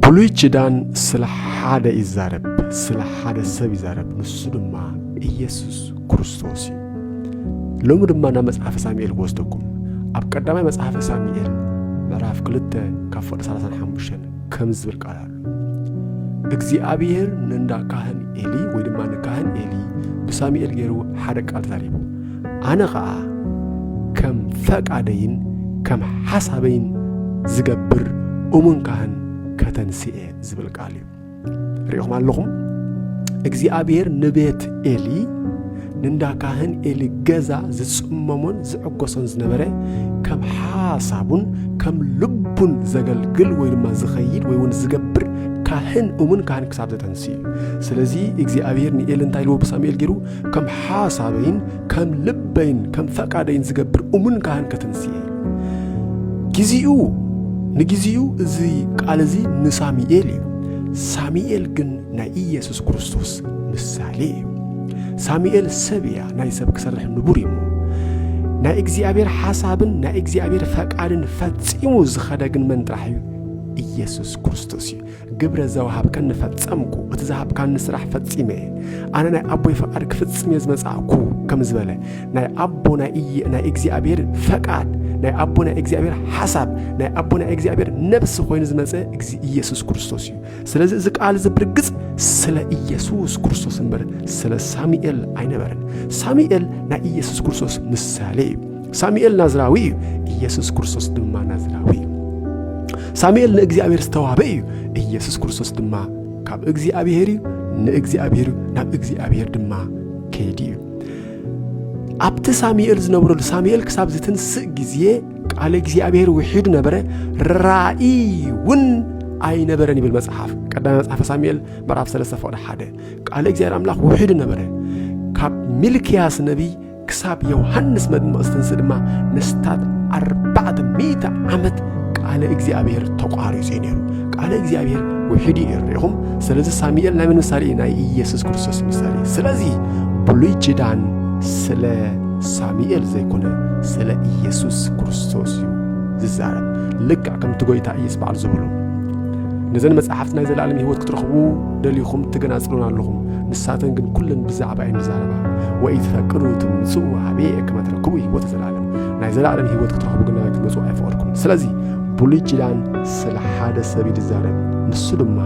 ብሉይ ኪዳን ስለ ሓደ ይዛረብ፣ ስለ ሓደ ሰብ ይዛረብ፣ ንሱ ድማ ኢየሱስ ክርስቶስ እዩ። ሎሚ ድማ ናብ መጽሓፈ ሳሙኤል ክወስደኩም ኣብ ቀዳማይ መጽሓፈ ሳሙኤል ምዕራፍ ክልተ ካብ ፍቕዲ ሰላሳን ሓሙሽተን ከም ዝብል ቃል ኣሎ እግዚኣብሔር ንእንዳ ካህን ኤሊ ወይ ድማ ንካህን ኤሊ ብሳሙኤል ገይሩ ሓደ ቃል ተዛሪቡ ኣነ ኸኣ ከም ፈቃደይን ከም ሓሳበይን ዝገብር እሙን ካህን ከተንስኤ ዝብል ቃል እዩ ሪኢኹም ኣለኹም እግዚኣብሔር ንቤት ኤሊ ንእንዳ ካህን ኤሊ ገዛ ዝጽመሞን ዝዕጎሶን ዝነበረ ከም ሓሳቡን ከም ልቡን ዘገልግል ወይ ድማ ዝኸይድ ወይ እውን ዝገብር ካህን እውን ካህን ክሳብ ዘተንስእ እዩ ስለዚ እግዚኣብሔር ንኤሊ እንታይ ልዎ ብሳሙኤል ገይሩ ከም ሓሳበይን ከም ልበይን ከም ፈቃደይን ዝገብር እሙን ካህን ከትንስኤ ግዚኡ ንግዚኡ እዚ ቃል እዚ ንሳሚኤል እዩ ሳሚኤል ግን ናይ ኢየሱስ ክርስቶስ ምሳሌ እዩ ሳሚኤል ሰብ እያ ናይ ሰብ ክሰርሕ ንቡር እዩ ናይ እግዚኣብሔር ሓሳብን ናይ እግዚኣብሔር ፈቃድን ፈጺሙ ዝኸደ ግን መን ጥራሕ እዩ ኢየሱስ ክርስቶስ እዩ ግብረ ዘውሃብካኒ ፈጸምኩ፣ እቲ ዝሃብካኒ ስራሕ ፈጺመ እየ፣ ኣነ ናይ ኣቦይ ፈቃድ ክፍጽም እየ ዝመጻእኩ ከም ዝበለ ናይ ኣቦ ናይ እግዚኣብሔር ፈቃድ ናይ ኣቦ ናይ እግዚኣብሔር ሓሳብ ናይ ኣቦ ናይ እግዚኣብሔር ነብሲ ኮይኑ ዝመፀ እዚ ኢየሱስ ክርስቶስ እዩ ስለዚ እዚ ቃል እዚ ብርግፅ ስለ ኢየሱስ ክርስቶስ እምበር ስለ ሳሙኤል ኣይነበረን ሳሙኤል ናይ ኢየሱስ ክርስቶስ ምሳሌ እዩ ሳሙኤል ናዝራዊ እዩ፣ ኢየሱስ ክርስቶስ ድማ ናዝራዊ እዩ። ሳሙኤል ንእግዚኣብሔር ዝተዋህበ እዩ፣ ኢየሱስ ክርስቶስ ድማ ካብ እግዚኣብሔር እዩ፣ ንእግዚኣብሔር እዩ፣ ናብ እግዚኣብሔር ድማ ከይዲ እዩ። ኣብቲ ሳሙኤል ዝነብረሉ ሳሙኤል ክሳብ ዝትንስእ ግዜ ቃል እግዚኣብሔር ውሒዱ ነበረ፣ ራእይ እውን ኣይነበረን ይብል መጽሓፍ ቀዳማይ መጽሓፈ ሳሙኤል ምዕራፍ 3 ፈቕዲ ሓደ ቃል እግዚኣብሔር ኣምላኽ ውሒዱ ነበረ ካብ ሚልክያስ ነቢይ ክሳብ ዮሃንስ መጥምቕ ዝትንስ ድማ ንስታት ኣርባዕተ ሚእቲ ዓመት ቃለ እግዚኣብሔር ተቋሪጹ እዩ ነይሩ ቃለ እግዚኣብሔር ውሕድ እዩ ነይሩ ኢኹም ስለዚ ሳሙኤል ናይ ምን ምሳሌ እዩ ናይ ኢየሱስ ክርስቶስ ምሳሌ እዩ ስለዚ ብሉይ ኪዳን ስለ ሳሙኤል ዘይኮነ ስለ ኢየሱስ ክርስቶስ እዩ ዝዛረብ ልክዕ ከምቲ ጎይታ ኢየሱስ በዓል ዝበሎ ነዘን መጽሓፍቲ ናይ ዘለኣለም ህይወት ክትረኽቡ ደሊኹም ትገናጽሉን ኣለኹም ንሳተን ግን ኩለን ብዛዕባ እየን ዝዛረባ ወኢትፈቅዱ ትምጽኡ ኀቤየ ከመ ትረክቡ ሕይወተ ዘለዓለም ናይ ዘለዓለም ሕይወት ክትረኽቡ ግና ክትመጹ ኣይፈቐድኩምን ስለዚ ብሉይ ኪዳን ስለ ሓደ ሰብ እዩ ዝዛረብ ንሱ ድማ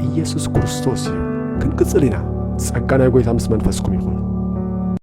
ኢየሱስ ክርስቶስ እዩ ክንቅጽል ኢና ጸጋ ናይ ጐይታ ምስ መንፈስኩም ይኹን